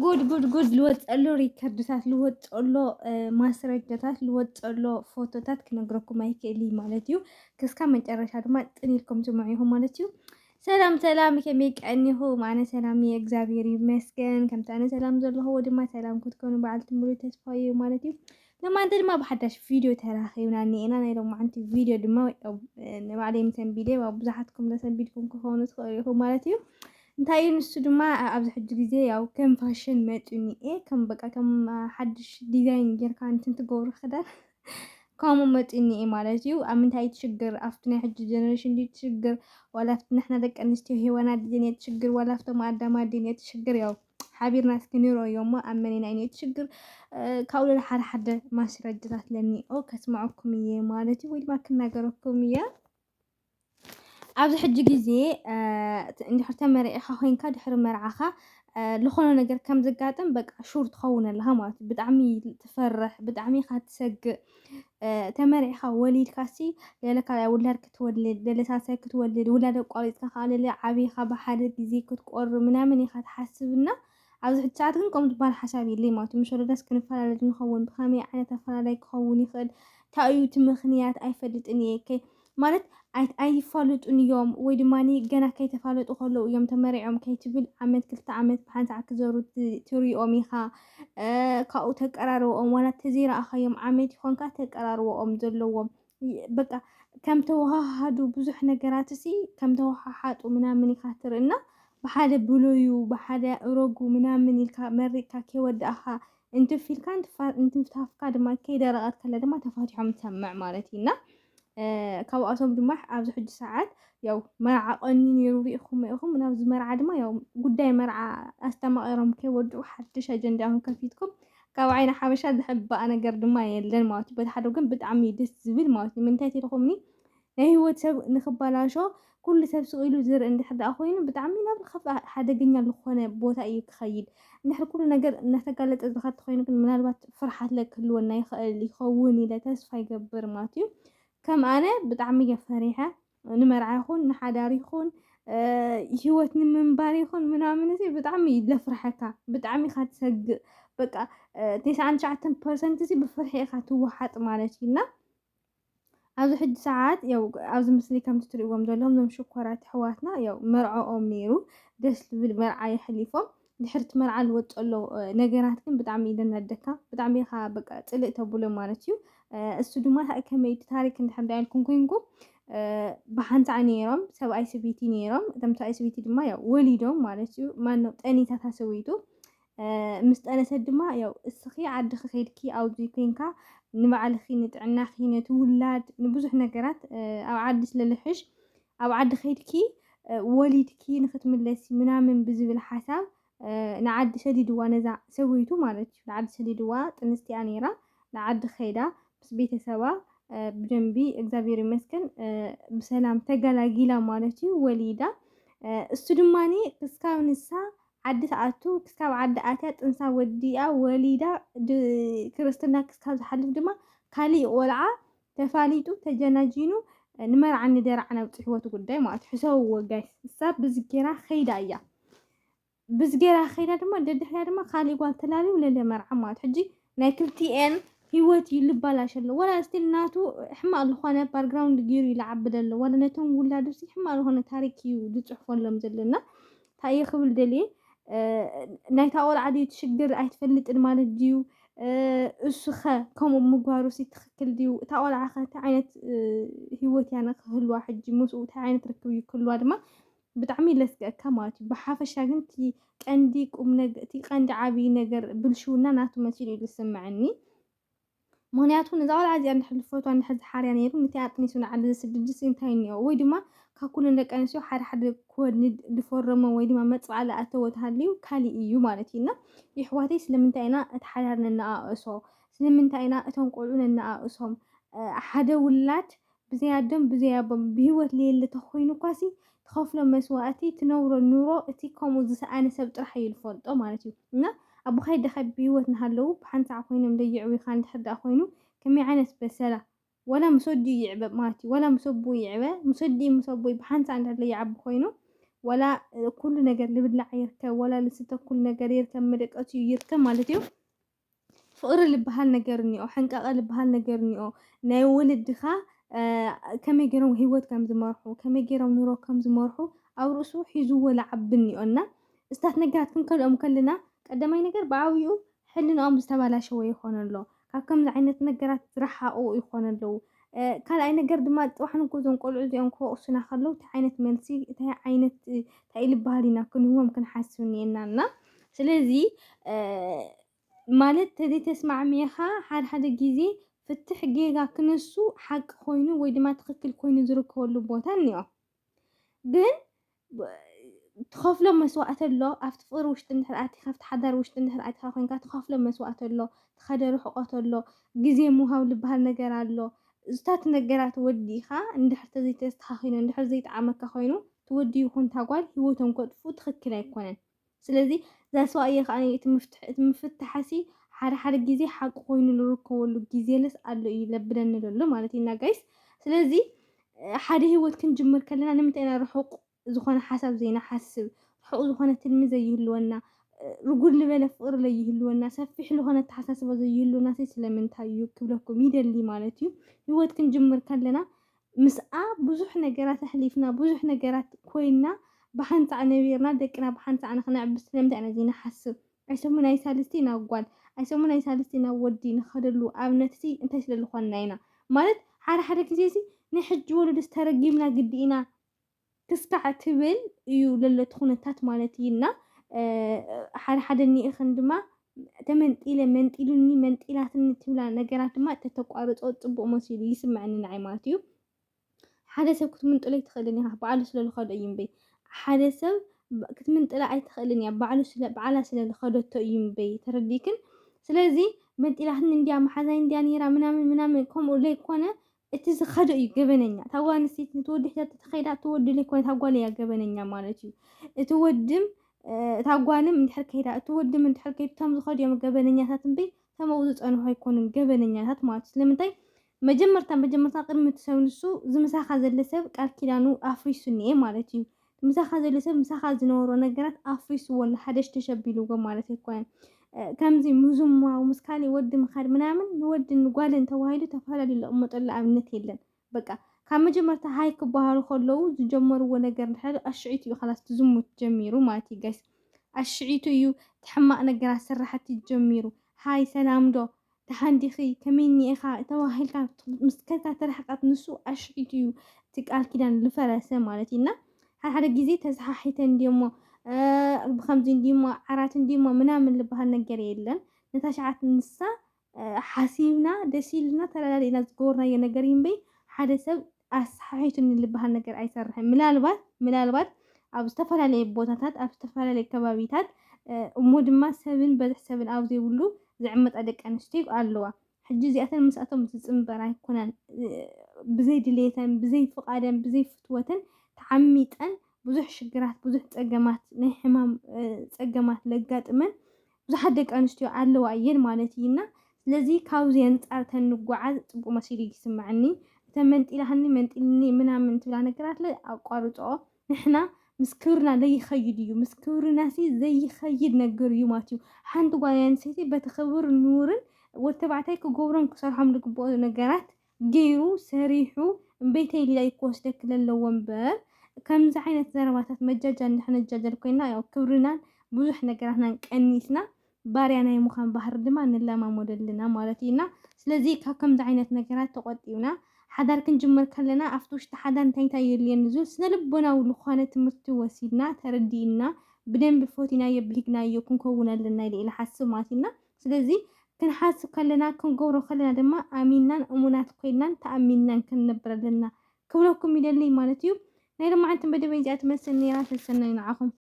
ጉድ ጉድ ጉድ ልወፀሎ ሪከርድታት ልወፀሎ ማስረጃታት ልወፀሎ ፎቶታት ክነግረኩም ኣይክእል እዩ ማለት እዩ ክስካብ መጨረሻ ድማ ጥን ኢልኩም ስምዑ ኢኹም ማለት እዩ ሰላም ሰላም ከመይ ቀኒኹም ኣነ ሰላም እየ እግዚኣብሔር ይመስገን ከምቲ ኣነ ሰላም ዘለኹዎ ድማ ሰላም ክትኮኑ በዓልቲ ሙሉ ተስፋ እዩ ማለት እዩ ለማንተ ድማ ብሓዳሽ ቪድዮ ተራኺብና እኒኤና ናይ ሎማዓንቲ ቪድዮ ድማ ንባዕለይ ምሰንቢደ ኣብ ብዙሓትኩም ዘሰንቢድኩም ክኾኑ ትኽእሉ ኢኹም ማለት እዩ እንታይ እዩ ንሱ ድማ ኣብዚ ሕጂ ግዜ ያው ከም ፋሽን መፅዩ እኒኤ ከም በቃ ከም ሓድሽ ዲዛይን ጌርካ እንትን ትገብሩ ክዳን ከምኡ መፅኡ እኒኤ ማለት እዩ ኣብ ምንታይ ትሽግር ኣብቲ ናይ ሕጂ ጀነሬሽን ድዩ ትሽግር ዋላ ኣብቲ ንሕና ደቂ ኣንስትዮ ሄዋና ድየን እየ ትሽግር ዋላ ኣብቶም ኣዳማ ድየን እየ ትሽግር ያው ሓቢርና እስኪ ንረዮ እሞ ኣብ መኔና እዩ ሽግር ካብኡ ሌላ ሓደ ሓደ ማስረጃታት ለኒኦ ከስምዐኩም እየ ማለት እዩ ወይ ድማ ክናገረኩም እየ ኣብዚ ሕጂ ግዜ እንድሕር ተመሪዕኻ ኮይንካ ድሕሪ መርዓኻ ዝኾነ ነገር ከም ዘጋጥም በቃ ሹር ትኸውን ኣለኻ ማለት እዩ ብጣዕሚ ትፈርሕ ብጣዕሚ ኢኻ ትሰግእ ተመሪዕኻ ወሊድካሲ ገለ ካልኣይ ውላድ ክትወልድ ገለ ሳልሳይ ክትወልድ ውላድ ኣቋሪፅካ ከዓ ገለ ዓብኻ ብሓደ ግዜ ክትቆሪ ምናምን ኢኻ ትሓስብና ኣብዚ ሕጂ ሰዓት ግን ከምኡ ዝበሃል ሓሳብ የለይ ማለት እዩ ምስ ወለዳስ ክንፈላለድ ንኸውን ብኸመይ ዓይነት ኣፈላላይ ክኸውን ይኽእል እንታይ እዩ እቲ ምኽንያት ኣይፈልጥን እየ ማለት ኣይፋሉጡን እዮም ወይ ድማ ገና ከይተፋለጡ ከለዉ እዮም ተመሪዖም ከይትብል ዓመት ክልተ ዓመት ብሓንቲ ሰዓት ክዘሩ ትሪኦም ኢኻ ካብኡ ተቀራርቦኦም ዋላ ተዘይረኣኻዮም ዓመት ይኾንካ ተቀራርቦኦም ዘለዎም በቃ ከም ተወሃሃዱ ብዙሕ ነገራት እሲ ከም ተወሃሓጡ ምናምን ኢኻ ትርኢ እና ብሓደ ብሎዩ ብሓደ እሮጉ ምናምን ኢልካ መሪቕካ ከይወዳእኻ እንትፍ ኢልካ እንትፍታፍካ ድማ ከይደረቐት ከለ ድማ ተፋቲሖም ትሰምዕ ማለት እዩ እና ካብኣቶም ድማ ኣብዚ ሕጂ ሰዓት ያው መርዓ ቀኒ ነይሩ ርኢኹም ኢኹም ናብዚ መርዓ ድማ ያው ጉዳይ መርዓ ኣስተማቒሮም ከይወድኡ ሓድሽ ኣጀንዳ ኹም ከፊትኩም ካብ ዓይነ ሓበሻ ዝሕባእ ነገር ድማ የለን ማለት እዩ በቲ ሓደ ግን ብጣዕሚ ደስ ዝብል ማለት እዩ ምንታይ ተልኹምኒ ናይ ህይወት ሰብ ንኽበላሾ ኩሉ ሰብ ስቕ ኢሉ ዝርኢ እንድሕር ደኣ ኮይኑ ብጣዕሚ ናብ ዝኸፍኣ ሓደገኛ ዝኾነ ቦታ እዩ ክኸይድ። እንድሕር ኩሉ ነገር እናተጋለጠ ዝኸድ ተኾይኑ ግን ምናልባት ፍርሓትለ ክህልወና ይኸእል ይኸውን ኢለ ተስፋ ይገብር ማለት እዩ። ከም ኣነ ብጣዕሚ እየ ፈሪሐ ንመርዓ ይኹን ንሓዳር ይኹን ሂወት ንምንባር ይኹን ምናምን እዚ ብጣዕሚ እዩ ዘፍርሐካ ብጣዕሚ ኢኻ ትሰግእ በቃ ቴስዓን ትሽዓተን ፐርሰንት እዚ ብፍርሒ ኢኻ ትወሓጥ ማለት እዩና ኣብዚ ሕጂ ሰዓት ያው ኣብዚ ምስሊ ከምቲ ትርእዎም ዘለኹም እዞም ሽኮራት ኣሕዋትና ያው መርዐኦም ነይሩ ደስ ዝብል መርዓ የሕሊፎም ድሕሪ እቲ መርዓ ዝወፅ ዘሎ ነገራት ግን ብጣዕሚ እዩ ዘናደካ ብጣዕሚ ኢኻ በቃ ፅልእ ተብሎ ማለት እዩ እሱ ድማ ከመይ እቲ ታሪክ እንድሕር ዳ ኢልኩም ኮይንኩም ብሓንሳዕ ነይሮም ሰብኣይ ሰበይቲ ነይሮም እቶም ሰብኣይ ሰበይቲ ድማ ያው ወሊዶም ማለት እዩ ማነው ጠኒታታ ሰበይቱ ምስ ጠነሰት ድማ ያው እስኺ ዓድኺ ኬድኪ ኣብዚ ኮንካ ንባዕልኺ ንጥዕናኺ ነቲ ውላድ ንብዙሕ ነገራት ኣብ ዓዲ ስለልሕሽ ኣብ ዓዲ ኬድኪ ወሊድኪ ንክትምለሲ ምናምን ብዝብል ሓሳብ ንዓዲ ሰዲድዋ ነዛ ሰበይቱ ማለት እዩ ንዓዲ ሰዲድዋ ጥንስቲያ ነይራ ንዓዲ ከይዳ ምስ ቤተሰባ ብደንቢ እግዚኣብሔር ይመስገን ብሰላም ተገላጊላ ማለት እዩ ወሊዳ እሱ ድማኒ ክስካብ ንሳ ዓዲ ትኣቱ ክስካብ ዓዲ ኣትያ ጥንሳ ወዲኣ ወሊዳ ክርስትና ክስካብ ዝሓልፍ ድማ ካሊእ ቆልዓ ተፋሊጡ ተጀናጂኑ ንመርዓን ንደርዓን ኣብፅሕዎ እቲ ጉዳይ ማለት እዩ ሕሰብዎ ጋይስ እሳ ብዚ ጌራ ከይዳ እያ ብዚ ጌራ ከይዳ ድማ ደድሕሪያ ድማ ካሊእ ጓል ተላልዩ ለለ መርዓ ማለት ሕጂ ናይ ክልቲኤን ሂወት እዩ ልባላሽ ኣሎ ወላ ስቲል ናቱ ሕማቅ ልኾነ ባርግራውንድ ጊሩ እዩ ልዓቢ ደሎ ወላ ነቶም ውላዱሲ ሕማቅ ልኾነ ታሪክ እዩ ልጽሕፎሎም ዘሎ እና እንታይ እየ ክብል ደልየ ናይታ ቆልዓ ድዩ ትሽግር ኣይትፈልጥን ማለት ድዩ እሱኸ ከምኡ ምግባሩ ሲ ትኽክል ድዩ እታ ቆልዓ ከ እንታይ ዓይነት ሂወት እያ ንክህልዋ ሕጂ ምስኡ እንታይ ዓይነት ርክብ እዩ ክህልዋ ድማ ብጣዕሚ እዩ ለስገእካ ማለት እዩ ብሓፈሻ ግን እቲ ቀንዲ ቁምነገ እቲ ቀንዲ ዓብይ ነገር ብልሽውና ናቱ መሲሉ እዩ ዝስመዐኒ ምክንያቱ ነዛ ቆልዓ እዚኣ እንድሕር ዝፈትዋ እንድሕር ዝሓርያ ነይሩ ነቲ ኣጥኒሱ ንዓዲ ዝስድድስ እንታይ እኒኦ ወይ ድማ ካብ ኩለን ደቂ ኣንስትዮ ሓደ ሓደ ክወልድ ዝፈረመ ወይ ድማ መፅብዓ ዝኣተወ ተሃልዩ ካሊእ እዩ ማለት እዩ እና ይሕዋተይ ስለምንታይ ኢና እቲ ሓዳር ነነኣእሶ ስለምንታይ ኢና እቶም ቆልዑ ነነኣእሶም ሓደ ውላድ ብዘይ ኣደን ብዘይ ኣቦን ብህይወት ለየለ ተኾይኑኳሲ ትኸፍሎ መስዋእቲ ትነብሮ ኑሮ እቲ ከምኡ ዝሰኣነ ሰብ ጥራሕ እዩ ልፈልጦ ማለት እዩ እና ኣቦኻይ ኣደኻይ ብህይወት ናሃለዉ ብሓንቲ ሰዓት ኮይኖም ለየዕብዩኻ እንድሕር ደኣ ኮይኑ ከመይ ዓይነት በሰላ ዋላ ምስ ኣዲኡ ይዕበ ማለት እዩ ዋላ ምስ ኣቡኡ ይዕበ ምስ ኣዲኡ ምስ ኣቦይ ብሓንቲ ሰዓት እንድሕር ለይዓቢ ኮይኑ ዋላ ኩሉ ነገር ልብላዕ ይርከብ ዋላ ልስተ ኩሉ ነገር ይርከብ መደቀሲኡ ይርከብ ማለት እዩ ፍቕሪ ልበሃል ነገር እኒኦ፣ ሕንቃቐ ልበሃል ነገር እኒኦ፣ ናይ ወለድኻ ከመይ ገይሮም ህይወት ከም ዝመርሑ፣ ከመይ ገይሮም ኑሮ ከም ዝመርሑ ኣብ ርእሱ ሒዝዎ ልዓቢ እኒኦ እና እስታት ነገራት ክንከልኦም ከለና ቀዳማይ ነገር ብዓብይኡ ሕልናኦም ዝተባላሸወ ይኾን ኣሎ። ካብ ከምዚ ዓይነት ነገራት ዝረሓቑ ይኾኑ ኣለዉ። ካልኣይ ነገር ድማ ጥዋሕ ንጎ እዞም ቆልዑ እዚኦም ክወቕሱና ከለዉ እንታይ ዓይነት መልሲ እንታይ ዓይነት እንታይ ልበሃል ኢና ክንህቦም ክንሓስብ እኒኤና እና ስለዚ ማለት ተዘይተስማዕሚዕኻ ሓደ ሓደ ግዜ ፍትሕ ጌጋ ክነሱ ሓቂ ኮይኑ ወይ ድማ ትኽክል ኮይኑ ዝርከበሉ ቦታ እኒኦ ግን ትኸፍሎ መስዋእቲ ኣሎ ኣብቲ ፍቕሪ ውሽጢ እንድሕር ኣቲኻ ኣብቲ ሓዳር ውሽጢ እንድሕር ኣቲኻ ኮይንካ ትኸፍሎ መስዋእቲ ኣሎ ትኸደ ርሕቆት ኣሎ ግዜ ምሃብ ዝበሃል ነገር ኣሎ እዝታት ነገራት ወዲኻ እንድሕር ተዘይተስተኻኺሉ እንድሕር ዘይጠዓመካ ኮይኑ ትወዲ ይኹን ታጓል ሂወቶም ከጥፉ ትኽክል ኣይኮነን ስለዚ ዛስዋ እየ ከኣ እቲ ምፍትሕ እቲ ምፍታሕሲ ሓደ ሓደ ግዜ ሓቂ ኮይኑ ልርከበሉ ግዜለስ ኣሎ እዩ ለብለኒ ለሎ ማለት እዩ እና ጋይስ ስለዚ ሓደ ህይወት ክንጅምር ከለና ንምንታይ ኢና ርሑቕ ዝኾነ ሓሳብ ዘይንሓስብ ርሑቕ ዝኾነ ትልሚ ዘይህልወና ርጉድ ልበለ ፍቕሪ ለይህልወና ሰፊሕ ልኾነ ኣተሓሳስባ ዘይህልወና ስለምንታይ እዩ ክብለኩም ይደሊ ማለት እዩ ህይወት ክንጅምር ከለና ምስኣ ብዙሕ ነገራት ኣሕሊፍና፣ ብዙሕ ነገራት ኮይንና፣ ብሓንሳዕ ነቢርና፣ ደቅና ብሓንሳዕ ንኽነዕቢ ስለምንታይ ኢና እዚ ንሓስብ? ኣይሰሙ ናይ ሳልስቲ ናብ ጓል፣ ኣይሰሙ ናይ ሳልስቲ ናብ ወዲ ንኸደሉ ኣብነትሲ እንታይ ስለ ልኾንና ኢና? ማለት ሓደ ሓደ ግዜሲ ናይ ሕጂ ወለዶስ ተረጊምና ግዲ ኢና? ክስካዕ ትብል እዩ ለሎ ትኹነታት ማለት እዩ እና ሓደ ሓደ ኒኢኽን ድማ ተመንጢለ መንጢሉኒ መንጢላትኒ ትብላ ነገራት ድማ ተተቋርጾ ጽቡቕ መሲሉ ይስምዐኒ ንዓይ ማለት እዩ ሓደ ሰብ ክትምንጥሎ ኣይትኽእልን ኢኻ በዓሉ ስለ ዝኸዶ እዩ እምበይ ሓደ ሰብ ክትምንጥላ ኣይትኽእልን እያ በዓሉ ስለ በዓላ ስለ ዝኸደቶ እዩ እምበይ ተረዲክን ስለዚ መንጢላትኒ እንዲያ መሓዛይ እንዲያ ነይራ ምናምን ምናምን ከምኡ ዘይኮነ እቲ ዝኸደ እዩ ገበነኛ። እታ ጓል ኣንስተይቲ ነቲ ወዲ ሒዛቶ ተኸይዳ እቲ ወዲ ዘይኮነ እታ ጓል እያ ገበነኛ ማለት እዩ። እቲ ወድም እታ ጓልም እንድሕር ከይዳ እቲ ወድም እንድሕር ከይዱ እቶም ዝኸዱ እዮም ገበነኛታት እምበይ እቶም ኣብኡ ዝጸንሑ ኣይኮኑን ገበነኛታት ማለት እዩ። ስለምንታይ መጀመርታ መጀመርታ ቅድሚ እቲ ሰብ ንሱ ዝምሳኻ ዘለ ሰብ ቃል ኪዳኑ ኣፍሪሱ እኒኤ ማለት እዩ። ምሳኻ ዘሎ ሰብ ምሳኻ ዝነበሮ ነገራት ኣፍሪስዎ ኣሎ ሓደሽ ተሸቢልዎ ማለት ኣይኮነን። ከምዚ ምዝማው ምስ ካሊእ ወዲ ምኻድ ምናምን ንወድን ጓልን ተባሂሉ ተፈላለዩ ዝቕመጠሉ ኣብነት የለን። በቃ ካብ መጀመርታ ሃይ ክበሃሉ ከለዉ ዝጀመርዎ ነገር እንድሕር ኣሽዒቱ እዩ ካላስ ትዝሙት ጀሚሩ ማለት እዩ ጋይስ ኣሽዒቱ እዩ ትሕማቕ ነገራት ስራሕቲ ጀሚሩ ሃይ ሰላምዶ ደሓን ዲኺ? ከመይ እኒኤኻ? ተባሂልካ ምስከታ ተረሕቃት ንሱ ኣሽሒቱ እዩ እቲ ቃል ኪዳን ዝፈረሰ ማለት እዩ እና ሓደ ሓደ ግዜ ተሰሓሒተ እንዲሞ ብከምዚ እንዲሞ ዓራት እንዲሞ ምናምን ዝበሃል ነገር የለን ነታ ሸዓት ንሳ ሓሲብና ደስ ኢልና ተረዳዲእና ዝገበርናዮ ነገር እምበይ ሓደ ሰብ ኣሰሓሒቱኒ ልበሃል ነገር ኣይሰርሕን። ምናልባት ምናልባት ኣብ ዝተፈላለየ ቦታታት ኣብ ዝተፈላለየ ከባቢታት እሞ ድማ ሰብን በዝሒ ሰብን ኣብ ዘይብሉ ዝዕመጣ ደቂ ኣንስትዮ ኣለዋ። ሕጂ እዚኣተን ምስኣቶም ዝጽንበር ኣይኮናን። ብዘይ ድሌተን፣ ብዘይ ፍቓደን፣ ብዘይ ፍትወተን ተዓሚጠን ብዙሕ ሽግራት፣ ብዙሕ ጸገማት፣ ናይ ሕማም ጸገማት ለጋጥመን ብዙሓት ደቂ ኣንስትዮ ኣለዋ እየን ማለት እዪ እና ስለዚ ካብዚ ኣንጻር ተንጓዓዝ ጽቡቅ መሲሉ እዪ ዝስመዐኒ እተን መንጢላሃኒ መንጢልኒ ምናምን ትብላ ነገራትለ ኣቋርጽኦ ንሕና ምስ ክብርና ለይኸይድ እዩ ምስ ክብርናሲ ዘይኸይድ ነገር እዩ ማለት እዩ ሓንቲ ጓል ኣንስተይቲ በቲ ክብር ኑርን ወዲ ተባዕታይ ክገብሮም ክሰርሖም ዝግብኦ ነገራት ገይሩ ሰሪሑ እምበይተይ ሊላይ ክወስደኪ ለለዎ እምበር ከምዚ ዓይነት ዘረባታት መጃጃል ንክንጃጀል ኮይና ያው ክብርናን ብዙሕ ነገራትናን ቀኒስና ባርያ ናይ ምዃን ባህሪ ድማ ንለማመዶ ኣለና ማለት እዩ እና ስለዚ ካብ ከምዚ ዓይነት ነገራት ተቆጢብና ሓዳር ክንጅምር ከለና ኣብቲ ውሽጢ ሓዳር እንታይ እንታይ የድልየኒ ዝብል ስነ ልቦናዊ ዝኾነ ትምህርቲ ወሲድና ተረዲእና ብደንቢ ፎቲናዮ ብሂግናዮ ክንከውን ኣለና ኢለ ኢለ ሓስብ ማለት እዩ እና ስለዚ ክንሓስብ ከለና ክንገብሮ ከለና ድማ ኣሚንናን እሙናት ኮይንናን ተኣሚንናን ክንነብር ኣለና ክብለኩም ይደልይ ማለት እዩ። ናይ ሎማዓንቲ መደበይ እዚኣ ትመስል ነይራ ሰሰናዩ ንዓኹም።